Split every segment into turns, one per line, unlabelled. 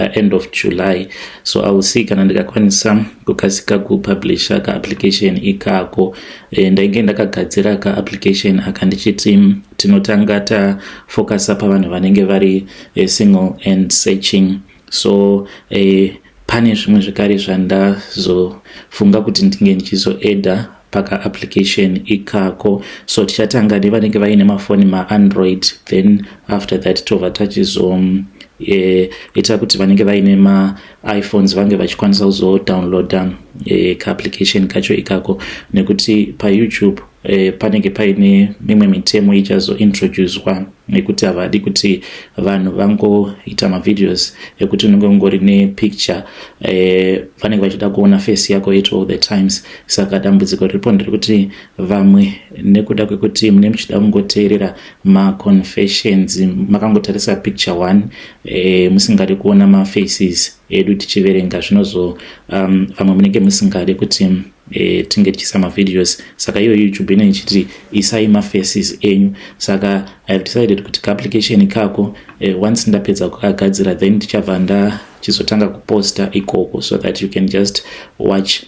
uh, end of july so i will see kana ndikakwanisa kukasika kupublisha ka application ikako uh, ndainge ndakagadzira ka application aka ndichiti tinotanga tafocasa pavanhu vanenge vari uh, single and searching so uh, pane zvimwe zvekare zvandazofunga kuti ndinge ndichizoeda paka application ikako so tichatanga nevanenge vaine mafoni maandroid then after that tova tachizo e, ita kuti vanenge vaine maiphones vange vachikwanisa kuzodownloada e, kaapplication kacho ikako nekuti payoutube e, panenge paine mimwe mitemo ichazointroducwa nekuti havadi kuti vanhu vangoita mavideos ekuti unenge ungori nepicture e, vanenge vachida kuona face yako it all the times saka dambudziko riripo nderekuti vamwe nekuda kwekuti mune muchida kungoteerera maconfessions makangotarisa picture one e, musingadi kuona mafaces edu tichiverenga zvinozo um, vamwe munenge musingadi kuti e, tinge tichiisa mavideos saka iyo youtube ine ichiti isai mafaces enyu saka i have decided kuti kaapplication ikako e, once ndapedza kukagadzira then ndichabva ndachizotanga kuposta ikoko so that you can just watch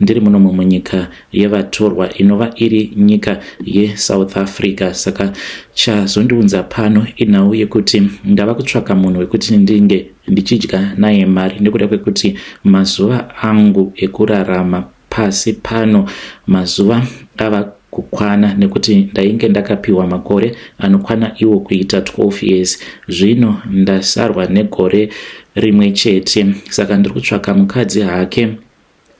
ndiri muno mumwe nyika yevatorwa inova iri nyika yesouth africa saka chazondiunza pano inhau yekuti ndava kutsvaka munhu wekuti ndinge ndichidya naye mari nekuda kwekuti mazuva angu ekurarama pasi pano mazuva ava kukwana nekuti ndainge ndakapiwa makore anokwana iwo kuita 12 years zvino ndasarwa negore rimwe chete saka ndiri kutsvaka mukadzi hake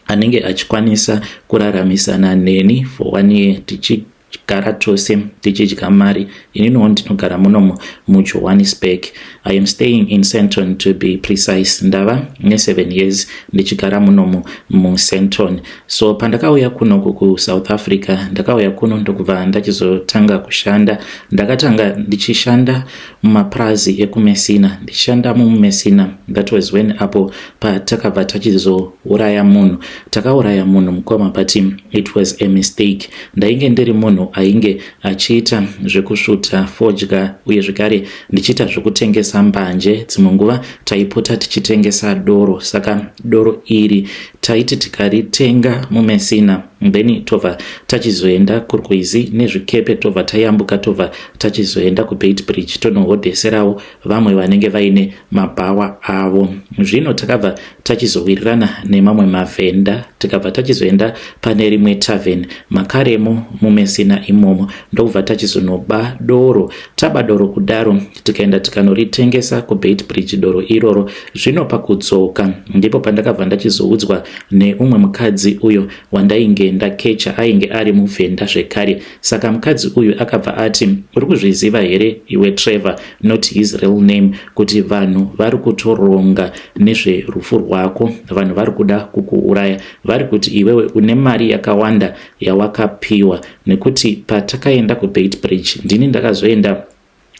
anenge achikwanisa kuraramisana neni for one year tichigara tose tichidya mari ininowo ndinogara munomo mujohannesburg i am staying in centon to be precise ndava neseven years ndichigara munomo mucenton so pandakauya kuno kukusouth africa ndakauya kuno ndokubva ndachizotanga kushanda ndakatanga ndichishanda mumapurazi ekumesina ndichishanda mumumesina that was when apo patakabva tachizouraya munhu takauraya munhu mukoma but it was a mistake ndainge ndiri munhu ainge achiita zvekusvuta fodya uye zvekare ndichiita zvekutengesa mbanje dzimwe nguva taipota tichitengesa doro saka doro iri taiti tikaritenga mumesina then tobva tachizoenda kurwizi nezvikepe tobva tayambuka tobva tachizoenda kubeit bridge tonohodheserawo vamwe vanenge vaine mabhawa avo zvino takabva tachizowirirana nemamwe mavhenda tikabva tachizoenda pane rimwe taven makaremo mumesina imomo ndokubva tachizonoba doro taba doro kudaro tikaenda tikanoritengesa kuBeitbridge doro iroro zvino pakudzoka ndipo pandakabva ndachizoudzwa neumwe mukadzi uyo wandainge ndakecha ainge ari muvhenda zvekare saka mukadzi uyu akabva ati uri kuzviziva here iwe Trevor not his real name kuti vanhu vari kutoronga nezverufu rwako vanhu vari kuda kukuuraya vari kuti iwewe une mari yakawanda yawakapiwa nekuti patakaenda kuBeitbridge ndini ndakazoenda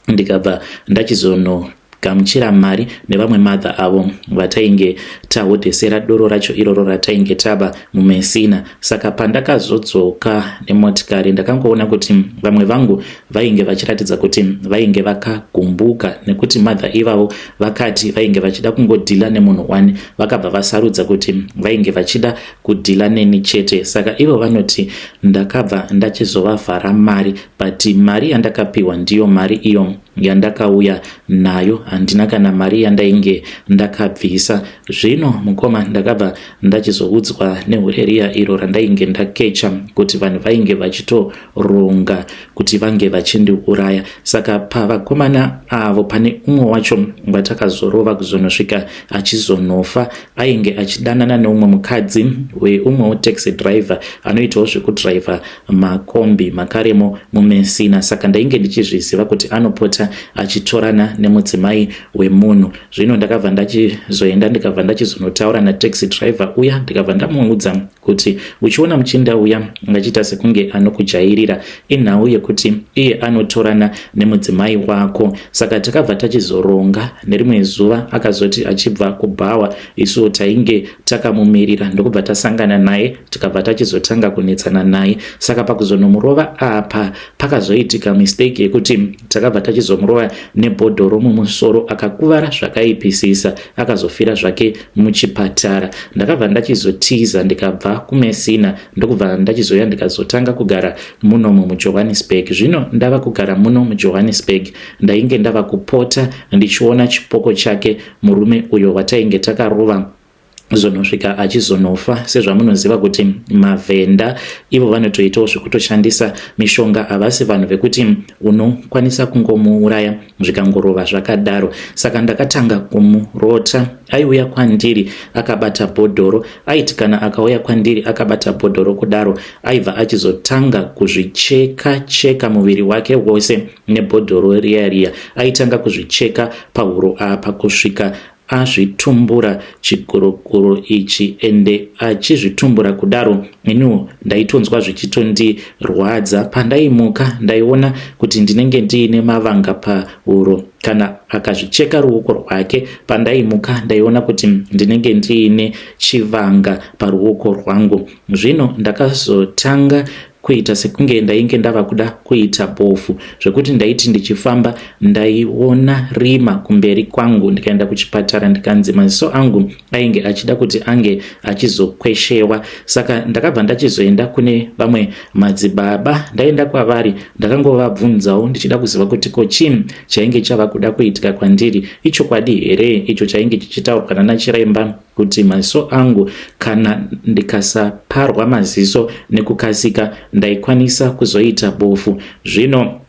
ndikabva ndachizono gamuchira mari nevamwe mother avo vatainge tahodhesera doro racho iroro ratainge taba mumesina saka pandakazodzoka nemotikari ndakangoona kuti vamwe vangu vainge vachiratidza kuti vainge vakagumbuka nekuti mother ivavo vakati vainge vachida kungodhila nemunhu one vakabva vasarudza kuti vainge vachida kudhila neni chete saka ivo vanoti ndakabva ndachizovavhara mari but mari yandakapiwa ndiyo mari iyo yandakauya nayo handina kana mari yandainge ndakabvisa zvino mukoma ndakabva ndachizoudzwa nehureriya iro randainge ndakecha kuti vanhu vainge vachitoronga kuti vange vachindiuraya saka pavakomana avo pane umwe wacho watakazorova kuzonosvika achizonofa ainge achidanana neumwe mukadzi weumwewo taxi driver anoitawo zvekudriver makombi makarimo mumesina saka ndainge ndichizviziva kuti anopota achitorana nemudzimai wemunhu zvino ndakabva ndachizoenda ndikabva ndachizonotaura nataxi driver uya ndikabva ndamuudza kuti uchiona muchinda uya ngachiita sekunge anokujairira inhau yekuti iye anotorana nemudzimai wako saka takabva tachizoronga nerimwe zuva akazoti achibva kubhawa isu tainge takamumirira ndokubva tasangana naye tikabva tachizotanga kunetsana naye saka pakuzonomurova apa pakazoitika mistake yekuti takabva tachizomurova nebhodhoro mumusoro akakuvara zvakaipisisa akazofira zvake muchipatara ndakabva ndachizotiza ndikabva kumesina ndokubva ndachizoya ndikazotanga kugara muno mumujohannesburg zvino ndava kugara muno mujohannesburg ndainge ndava kupota ndichiona chipoko chake Murume uyo watainge takarova zvonosvika achizonofa sezvamunoziva kuti mavhenda ivo vanotoitawo zvekutoshandisa mishonga havasi vanhu vekuti unokwanisa kungomuuraya zvikangorova zvakadaro saka ndakatanga kumurota aiuya kwandiri akabata bhodhoro aiti kana akauya kwandiri akabata bhodhoro kudaro aibva achizotanga kuzvicheka cheka muviri wake wose nebhodhoro riya riya aitanga kuzvicheka pahuro apa kusvika azvitumbura chikorokoro ichi ende achizvitumbura kudaro iniwo ndaitonzwa zvichitondirwadza pandaimuka ndaiona kuti ndinenge ndiine mavanga pahuro kana akazvicheka ruoko rwake pandaimuka ndaiona kuti ndinenge ndiine chivanga paruoko rwangu zvino ndakazotanga kuita sekunge ndainge ndava kuda kuita bofu zvekuti ndaiti ndichifamba ndaiona rima kumberi kwangu ndikaenda kuchipatara ndikanzi maziso angu ainge achida kuti ange achizokweshewa saka ndakabva ndachizoenda kune vamwe madzibaba ndaenda kwavari ndakangovabvunzawo ndichida kuziva kuti ko chii chainge chava kuda kuitika kwandiri ichokwadi here icho chainge chichitaurwa nanachireimba kuti maziso angu kana ndikasaparwa maziso nekukasika ndaikwanisa kuzoita bofu zvino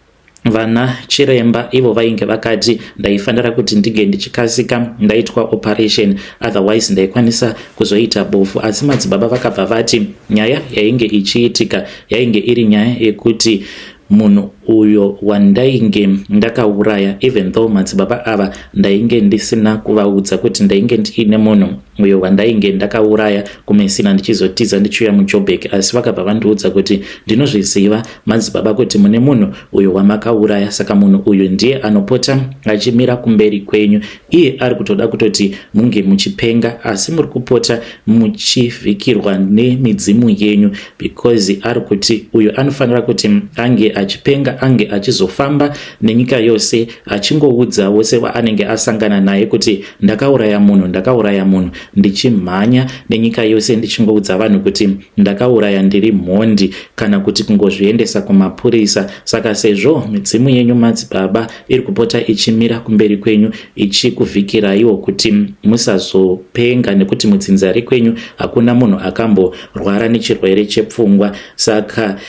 vana chiremba ivo vainge vakati ndaifanira kuti ndinge ndichikasika ndaitwa operation otherwise ndaikwanisa kuzoita bofu asi madzibaba vakabva vati nyaya yainge ichiitika yainge iri nyaya yekuti munhu uyo wandainge ndakauraya even though madzibaba ava ndainge ndisina kuvaudza kuti ndainge ndiine munhu uyo wandainge ndakauraya kumesina ndichizotiza ndichiuya mujobek asi vakabva vandiudza kuti ndinozviziva madzibaba kuti mune munhu uyo wamakauraya saka munhu uyu ndiye anopota achimira kumberi kwenyu iye ari kutoda kutoti munge muchipenga asi muri kupota muchivhikirwa nemidzimu yenyu because ari kuti uyo anofanira kuti ange achipenga ange achizofamba nenyika yose achingoudza wose waanenge asangana naye kuti ndakauraya munhu ndakauraya munhu ndichimhanya nenyika yose ndichingoudza vanhu kuti ndakauraya ndiri mhondi kana kuti kungozviendesa kumapurisa saka sezvo midzimu yenyu madzibaba iri kupota ichimira kumberi kwenyu ichikuvhikiraiwo kuti musazopenga nekuti mudzinzari kwenyu hakuna munhu akamborwara nechirwere chepfungwa saka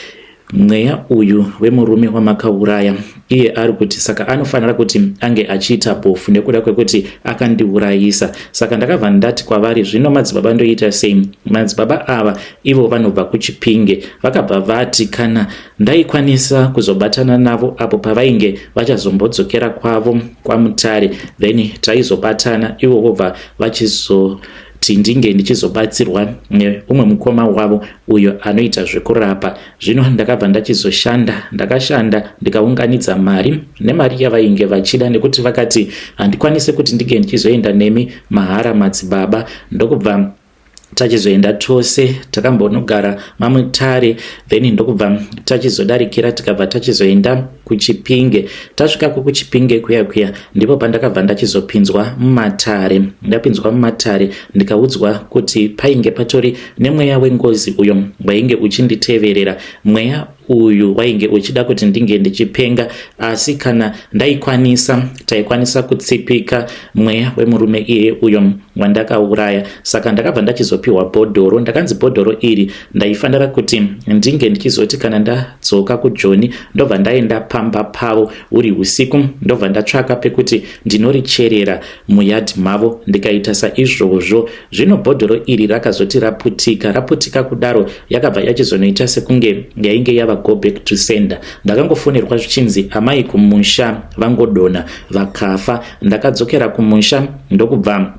mweya uyu wemurume wamakauraya iye ari kuti saka anofanira kuti ange achiita bofu nekuda kwekuti akandiurayisa saka ndakabva ndati kwavari zvino madzibaba ndoita sei madzibaba ava ivo vanobva kuchipinge vakabva vati kana Ndaikwanisa kuzobatana navo apo pavainge vachazombodzokera kwavo kwaMutare then taizobatana ivo vobva vachizo kuti ndinge ndichizobatsirwa neumwe mukoma wavo uyo anoita zvekurapa zvino ndakabva ndachizoshanda ndakashanda ndikaunganidza mari nemari yavainge vachida nekuti vakati handikwanise kuti ndinge ndichizoenda nemi mahara madzibaba ndokubva tachizoenda tose takambonogara mamwe tare then ndokubva tachizodarikira tikabva tachizoenda kuchipinge tasvikako kuchipinge kuya kuya ndipo pandakabva ndachizopinzwa mumatare ndapinzwa mumatare ndikaudzwa kuti painge patori nemweya wengozi uyo wainge uchinditeverera mweya uyu wainge uchida kuti ndinge ndichipenga asi kana ndaikwanisa taikwanisa kutsipika mweya wemurume iye uyo wandakauraya saka ndakabva ndachizopiwa bhodhoro ndakanzi bhodhoro iri ndaifanira kuti ndinge ndichizoti kana ndadzoka kujoni ndobva ndaenda pamba pavo huri usiku ndobva ndatsvaka pekuti ndinoricherera muyard mavo ndikaita saizvozvo zvino bhodhoro iri rakazoti raputika raputika kudaro yakabva yachizonoita sekunge yainge yava go back to sender ndakangofonerwa zvichinzi amai kumusha vangodona vakafa ndakadzokera kumusha ndokubva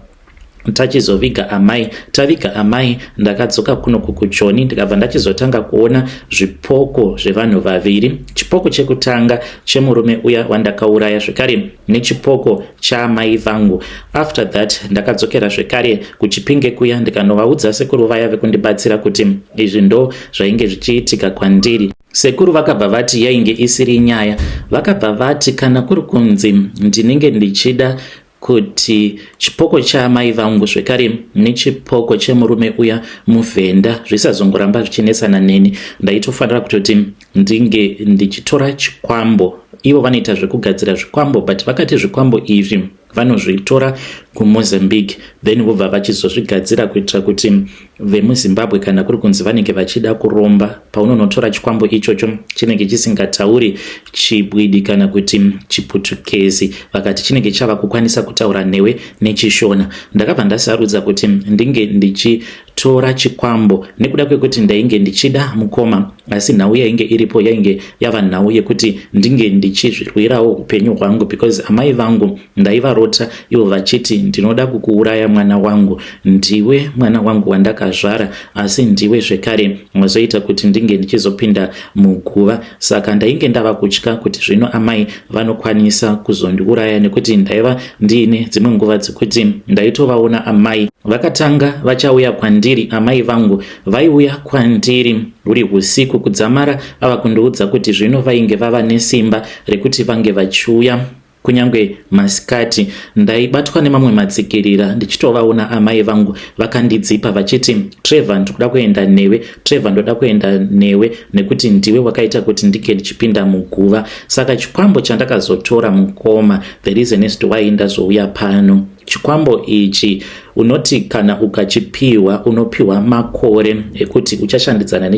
tachizoviga amai taviga amai ndakadzoka kuno kukujoni ndikabva ndachizotanga kuona zvipoko zvevanhu vaviri chipoko chekutanga chemurume uya wandakauraya zvekare nechipoko chaamai vangu after that ndakadzokera zvekare kuchipinge kuya ndikanovaudza sekuru vaya vekundibatsira kuti izvi ndo zvainge zvichiitika kwandiri sekuru vakabva vati yainge isiri nyaya vakabva vati kana kuri kunzi ndinenge ndichida kuti chipoko chaamai vangu zvekare nechipoko chemurume uya muvhenda zvisazongoramba zvichinetsana neni ndaitofanira kutoti ndinge ndichitora chikwambo ivo vanoita zvekugadzira zvikwambo but vakati zvikwambo izvi vanozvitora kumozambique then vobva vachizozvigadzira kuitira kuti vemuzimbabwe kana kuri kunzi vanenge vachida kuromba paunonotora chikwambo ichocho chinenge chisingatauri chibwidi kana kuti chiputukezi vakati chinenge chava kukwanisa kutaura newe nechishona ndakabva ndasarudza kuti ndinge ndichi tora chikwambo nekuda kwekuti ndainge ndichida mukoma asi nhau yainge iripo yainge yava nhau yekuti ndinge ndichizvirwirawo upenyu hwangu because amai vangu ndaivarota ivo vachiti ndinoda kukuuraya mwana wangu ndiwe mwana wangu wandakazvara asi ndiwe zvekare wazoita kuti ndinge ndichizopinda muguva Saka ndainge ndava kutya kuti zvino amai vanokwanisa kuzondiuraya nekuti ndaiva ndiine dzimwe nguva dzekuti ndaitovaona amai vakatanga vachauya kwandiri amai vangu vaiuya kwandiri huri usiku kudzamara ava kundiudza kuti zvino vainge vava nesimba rekuti vange vachiuya Kunyange masikati ndaibatwa nemamwe matsikirira ndichitovaona amai vangu vakandidzipa vachiti Trevor ndikuda kuenda newe Trevor ndoda kuenda newe nekuti ndiwe wakaita kuti ndike ndichipinda muguva saka chikwambo chandakazotora mukoma the reason is to why ndazouya pano chikwambo ichi unoti kana ukachipiwa unopiwa makore ekuti uchashandidzana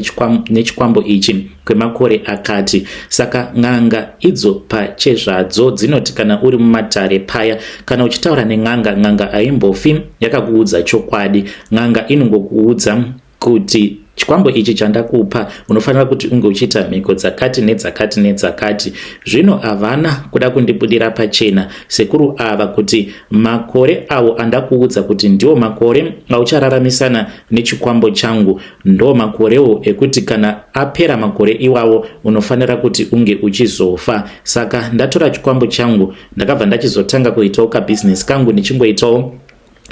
nechikwambo ichi kwemakore akati. Saka n'anga idzo pachezvadzo dzinoti kana uri mumatare paya, kana uchitaura nen'anga, n'anga haimbofi yakakuudza chokwadi. N'anga inongokuudza kuti chikwambo ichi chandakupa unofanira kuti unge uchiita mhiko dzakati nedzakati nedzakati zvino havana kuda kundibudira pachena sekuru ava kuti makore avo andakuudza kuti ndiwo makore auchararamisana nechikwambo changu Ndo makorewo ekuti kana apera makore iwawo unofanira kuti unge uchizofa. Saka ndatora chikwambo changu ndakabva ndachizotanga kuitawo kabusiness kangu ndichingoitawo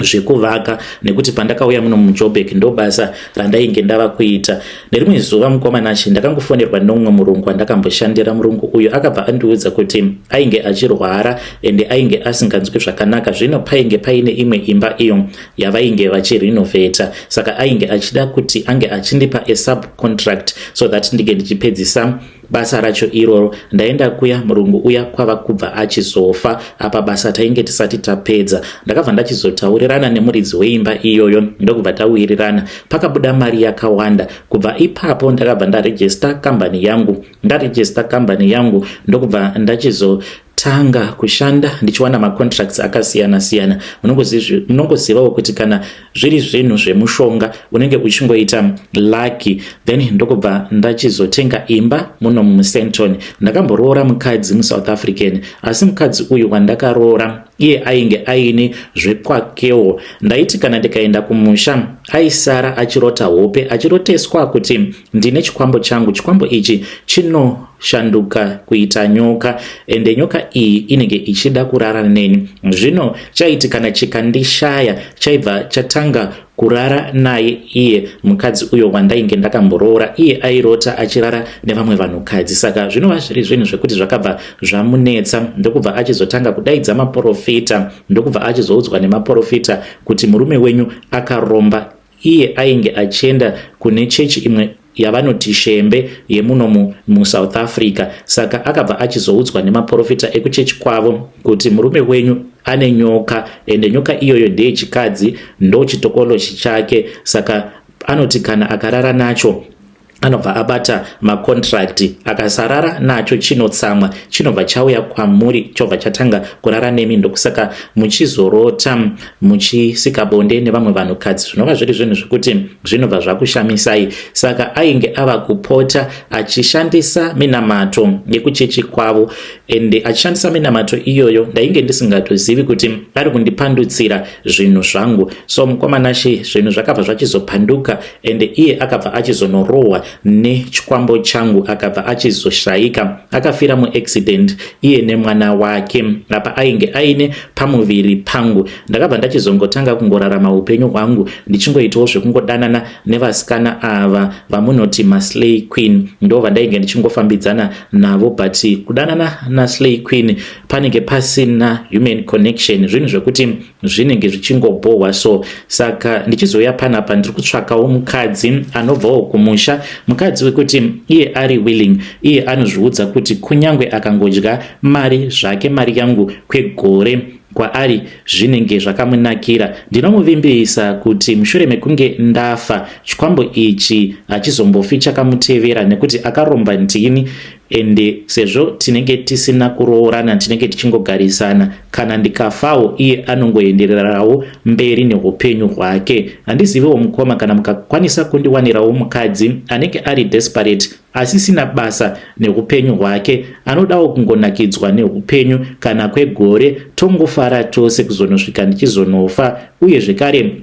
zvekuvaka nekuti pandakauya muno mujobek ndobasa randainge ndava kuita nerimwe zuva mukwamanashe ndakangofonerwa nomumwe murungu andakamboshandira murungu uyu akabva andiudza kuti ainge achirwara ende ainge asinganzwi zvakanaka zvino painge paine imwe imba iyo yavainge vachirenovata saka ainge achida kuti ange achindipa a subcontract so that ndinge ndichipedzisa basa racho iroro ndaenda kuya murungu uya kwava kubva achizofa apa basa tainge tisati tapedza ndakabva ndachizotaurirana nemuridzi weimba iyoyo ndokubva tawirirana pakabuda mari yakawanda kubva ipapo ndakabva ndarejista kambani yangu ndarejista kambani yangu ndokubva ndachizo tanga kushanda ndichiwana macontracts akasiyana siyana munongozivawo kuti kana zviri zvinhu zvemushonga unenge uchingoita lucky then ndokubva ndachizotenga imba muno musenton ndakamboroora mukadzi musouth african asi mukadzi uyu wandakaroora iye ainge aine zvekwakewo ndaiti kana ndikaenda kumusha aisara achirota hope achiroteswa kuti Ndine chikwambo changu, chikwambo ichi chinoshanduka kuita nyoka, ende nyoka iyi inenge ichida kurara neni. Zvino chaiti kana chikandishaya, chaibva chatanga kurara naye iye mukadzi uyo wandainge ndakamboroora. Iye airota achirara nevamwe vanhukadzi, saka zvinova zviri zvinhu zvekuti zvakabva zvamunetsa, ndokubva achizotanga kudaidza maporofita, ndokubva achizoudzwa nemaporofita kuti murume wenyu akaromba Iye ainge achienda kune chechi imwe yavanoti shembe yemuno musouth africa saka akabva achizoudzwa nemaprofita ekuchechi kwavo kuti murume wenyu ane nyoka ende nyoka iyoyo ndeyechikadzi ndochitokolochi chake saka anoti kana akarara nacho anobva abata macontract akasarara nacho chinotsamwa chinobva chauya kwamuri chobva chatanga kurara nemi ndokusaka muchizorota muchisika bonde nevamwe vanhukadzi zvinova zviri zvinhu zvekuti zvinobva zvakushamisai saka ainge ava kupota achishandisa minamato yekuchechi kwavo ende achishandisa minamato iyoyo ndainge ndisingatozivi kuti ari kundipandutsira zvinhu zvangu so mukomanashe zvinhu zvakabva zvachizopanduka ende iye akabva achizonorohwa nechikwambo changu akabva achizoshaika akafira muaccident iye nemwana wake apa ainge aine pamuviri pangu ndakabva ndachizongotanga kungorarama upenyu hwangu ndichingoitawo zvekungodanana nevasikana ava vamunoti maslay queen ndo vandainge ndichingofambidzana navo but kudanana naslay queen panenge pasina human connection zvinhu zvekuti zvinenge zvichingobhohwa so saka ndichizouya panapa ndiri kutsvakawo mukadzi anobvawo kumusha mukadzi wekuti iye ari willing iye anozviudza kuti kunyange akangodya mari zvake mari yangu kwegore kwaari zvinenge zvakamunakira ndinomuvimbisa kuti mushure mekunge ndafa chikwambo ichi hachizombofi chakamutevera nekuti akaromba ndini and sezvo tinenge tisina kuroorana tinenge tichingogarisana kana ndikafawo iye anongoendererawo mberi neupenyu hwake handizivewo mukoma kana mukakwanisa kundiwanirawo mukadzi anenge ari desperate asisina basa neupenyu hwake anodawo kungonakidzwa neupenyu kana kwegore tongofara tose kuzonosvika ndichizonofa uye zvekare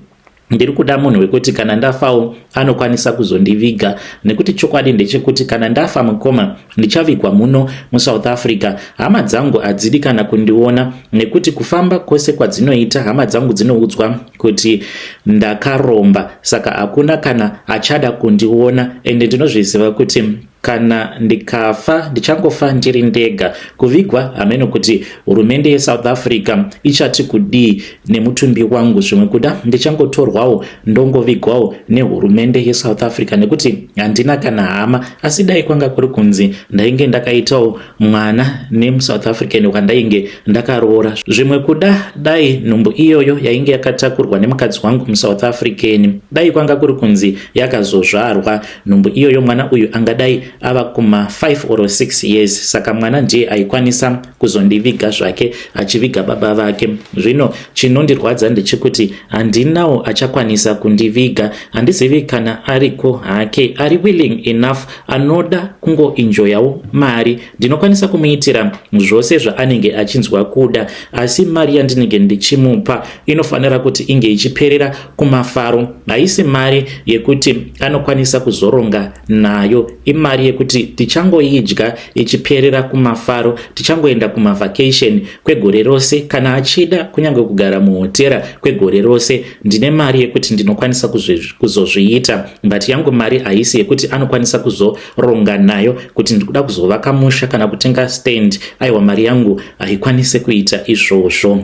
Ndiri kuda munhu wekuti kana ndafawo anokwanisa kuzondiviga nekuti chokwadi ndechekuti kana ndafa mukoma ndichavigwa muno musouth africa hama dzangu hadzidi kana kundiona nekuti kufamba kwose kwadzinoita hama dzangu dzinoudzwa kuti ndakaromba saka hakuna kana achada kundiona ende ndinozviziva kuti Kana ndikafa ndichangofa ndiri ndega. Kuvigwa hameno kuti hurumende yeSouth Africa ichati kudii nemutumbi wangu. Zvimwe kuda ndichangotorwawo ndongovigwawo nehurumende yeSouth Africa nekuti handina kana hama. Asi dai kwanga kuri kunzi ndainge ndakaitawo mwana nemuSouth African wandainge ndakaroora. Zvimwe kuda dai nhumbu iyoyo yainge yakatakurwa nemukadzi wangu muSouth African dai kwanga kuri kunzi yakazozvarwa. nhumbu iyoyo mwana uyu angadai ava kuma 5 or 6 years saka mwana ndiye aikwanisa kuzondiviga zvake achiviga baba vake zvino chinondirwadza ndechekuti handinawo achakwanisa kundiviga handizivi kana ariko hake ari willing enough anoda kungoinjoyawo mari ndinokwanisa kumuitira zvose zvaanenge achinzwa kuda asi mari yandinenge ndichimupa inofanira kuti inge ichiperera kumafaro haisi mari yekuti anokwanisa kuzoronga nayo imari yekuti tichangoidya ichiperera kumafaro tichangoenda kumavhakesheni kwegore rose kana achida kunyange kugara muhotera kwegore rose ndine mari yekuti ndinokwanisa kuzozviita but yangu mari haisi yekuti anokwanisa kuzoronga nayo kuti ndikuda kuzovaka musha kana kutenga stand aiwa mari yangu haikwanise kuita izvozvo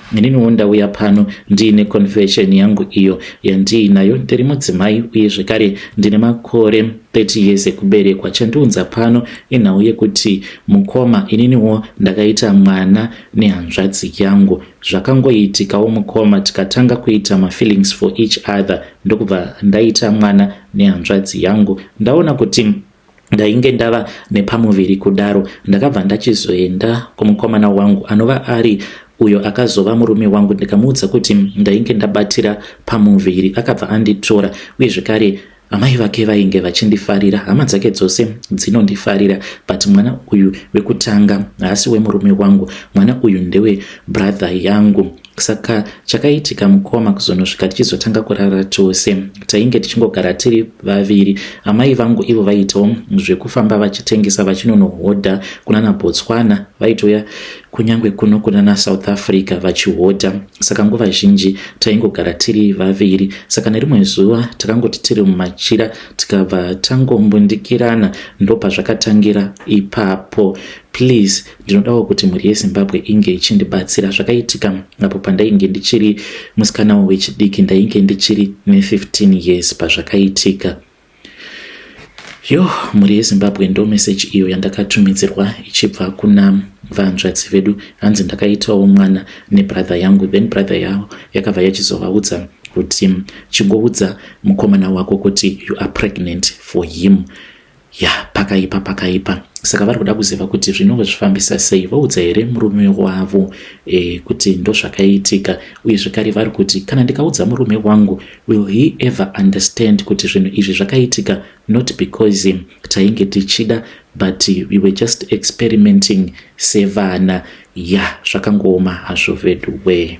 Ininiwo ndauya pano ndiine confession yangu iyo yandiinayo. Ndiri mudzimai uye zvekare ndine makore 30 years ekuberekwa. Chandiunza pano inhau yekuti mukoma, ininiwo ndakaita mwana nehanzvadzi yangu. Zvakangoitikawo mukoma, tikatanga kuita mafeelings for each other ndokubva ndaita mwana nehanzvadzi yangu. Ndaona kuti ndainge ndava nepamuviri kudaro ndakabva ndachizoenda kumukomana wangu anova ari uyo akazova murume wangu ndikamuudza kuti ndainge ndabatira pamuviri akabva anditora uye zvekare amai vake vainge vachindifarira hama dzake dzose dzinondifarira but mwana uyu wekutanga haasi wemurume wangu mwana uyu ndewe brother yangu Saka chakaitika mukoma kuzonosvika tichizotanga kurara tose. Tainge tichingogara tiri vaviri. Amai vangu ivo vaitawo zvekufamba vachitengesa vachinonohodha kunana Botswana, vaitouya kunyange kuno kunana South Africa vachihodha. Saka nguva zhinji taingogara tiri vaviri. Saka nerimwe zuva takangoti tiri mumachira tikabva tangombundikirana ndopazvakatangira ipapo. Please Ndinodawo kuti mhuri yeZimbabwe inge ichindibatsira. Zvakaitika apo pandainge ndichiri musikanawo wechidiki, ndainge ndichiri ne15 years pazvakaitika. Yo, mhuri yeZimbabwe ndo message iyo yandakatumidzirwa ichibva kuna vanzvadzi vedu. Hanzi ndakaitawo mwana nebrother yangu, then brother yavo yakabva yachizovaudza kuti chingoudza mukomana wako kuti you are pregnant for him. ya pakaipa pakaipa saka vari kuda kuziva kuti zvinonge zvifambisa sei vaudza here murume wavo e, kuti ndozvakaitika uye zvekare vari kuti kana ndikaudza murume wangu will he ever understand kuti zvinhu izvi zvakaitika not because tainge tichida but we were just experimenting sevana ya yeah, zvakangooma hazvo veduwee